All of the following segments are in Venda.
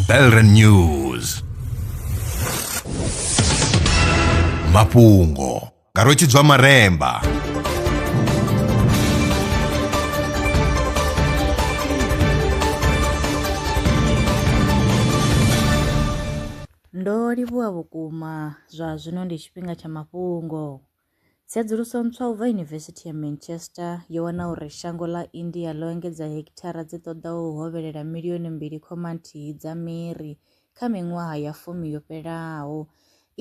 Belren News mafhungo nga rwetshidzwa maremba Ndo livhuwa vhukuma zwa zwino ndi tshifhinga tsha mafhungo. Tsedzuluso ntswa u bva Yunivesithi ya Manchester yo wana uri shango ḽa India ḽo engedza hekithara dzi ṱoḓaho u hovhelela milioni mbili khoma nthihi dza miri kha miṅwaha ya fumi yo fhelaho.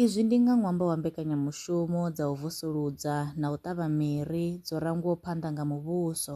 Izwi ndi nga ṅwambo wa mbekanyamushumo dza u vusuludza na u ṱavha miri dzo rangwaho phanḓa nga muvhuso.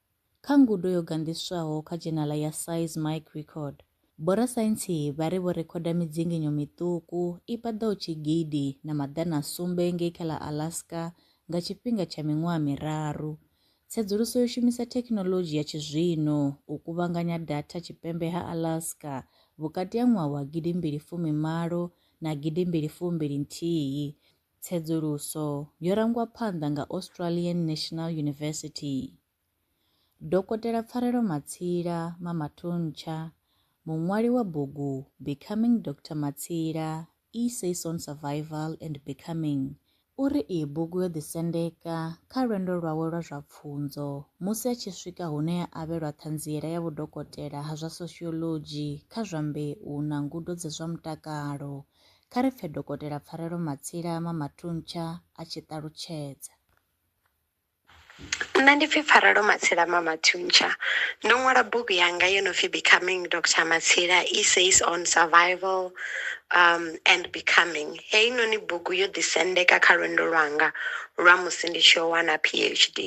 Kha ngudo yo ganḓiswaho kha dzhenala ya Size Mic Record, vhorasaintsi vha ri vho rekhoda midzinginyo miṱuku i paḓaho tshigidi na maḓana a sumbe ngei kha ḽa Alaska nga tshifhinga tsha miṅwaha miraru. Tsedzuluso yo shumisa thekhinoḽodzhi ya tshizwino u kuvhanganya datha tshipembe ha Alaska vhukati ha ṅwaha wa gidimbili fumi malo na gidimbili fumbili nthihi Tsedzuluso yo rangwa phanḓa nga Australian National University. Dokotela Pfarelo Matsila, Mama Thuntsha, muṅwali wa bugu Becoming Doctor Matsila, Essays on Survival and Becoming, u ri iyi bugu yo ḓisendeka kha lwendo lwawe lwa zwa pfunzo musi a tshi swika hune a avhelwa ṱhanziela ya vhudokotela ha zwa soshiolodzhi kha zwa mbeu na ngudo dza zwa mutakalo Kha ri pfe Dokotela Pfarelo Matsila Mamatuntsha a tshi ṱalutshedza. Nṋe ndi pfi Pfarelo Matsila Mamathuntsha. Ndo ṅwala bugu yanga yo no pfi Becoming Doctor Matsila Essays on Survival um and Becoming. Heinoni bugu yo ḓisendeka kha lwendo lwanga lwa musi ndi tshi yo wana PhD.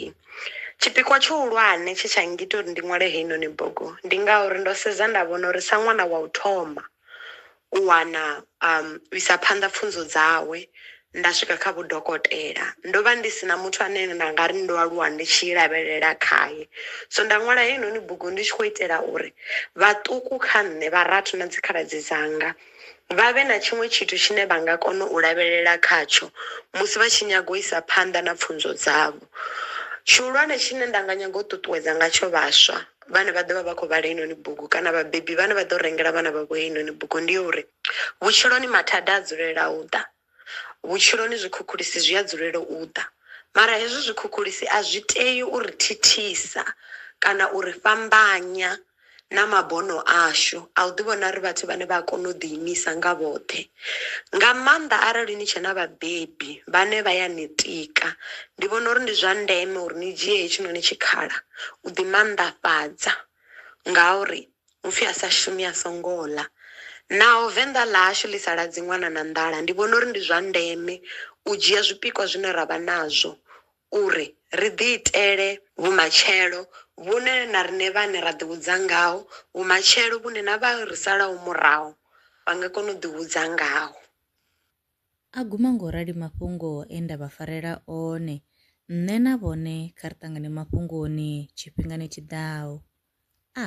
Tshipikwa tshihulwane tshe tsha ngita uri ndi ṅwale heinoni bugu, ndi nga uri ndo sedza nda vhona uri sa ṅwana wa u thoma, u wana u isa phanḓa pfunzo dzawe nda swika kha vhudokotela. Ndo vha ndi sina muthu ane nda nga ri ndo aluwa ndi tshi lavhelela khaye, so nda ṅwala heinoni bugu ndi tshi khou itela uri vhaṱuku kha nṋe vharathu na dzi khaladzi dzanga vha vhe na tshiṅwe tshithu tshine vha nga kona u lavhelela khatsho musi vha tshi nyaga u isa phanḓa na pfunzo dzavho. Tshihulwane tshine nda nga nyaga u ṱuṱuwedza ngatsho vhaswa vhane vha ḓovha vha khou vhala heinoni bugu kana vhabebi vhane vha ḓo rengela vhana vhavho heinoni bugu ndi ya uri, vhutshiloni mathada a dzulela u ḓa, vhutshiloni zwikhukhulisi zwi a dzulela u ḓa mara hezwi zwikhukhulisi a zwi tei u ri thithisa kana u ri fhambanya na mabono ashu a u ḓi vhona ri vhathu vhane vha a kona u ḓi imisa nga vhoṱhe. nga maanḓa arali ni tshe na vhabebi vhane vha ya ni tika. Ndi vhona uri ndi zwa ndeme uri ni dzhie hetshinoni tshikhala u ḓi mannḓafhadza ngauri hupfi a sa shumi a songo ḽa, naho Venḓa ḽa hashu ḽi sa ladzi ṅwana na nḓala ndi vhona uri ndi zwa ndeme u dzhia zwipikwa zwine ra vha nazwo uri ri ḓiitele vhumatshelo vhune na riṋe vhaṋe ra ḓihudza ngaho, vhumatshelo vhune na vha ri salaho murahu vha nga kona u ḓihudza ngaho. A guma nga u rali mafhungo e nda vha farela one. Nṋe na vhone kha ri ṱangane mafhungoni tshifhingani tshi ḓaho. A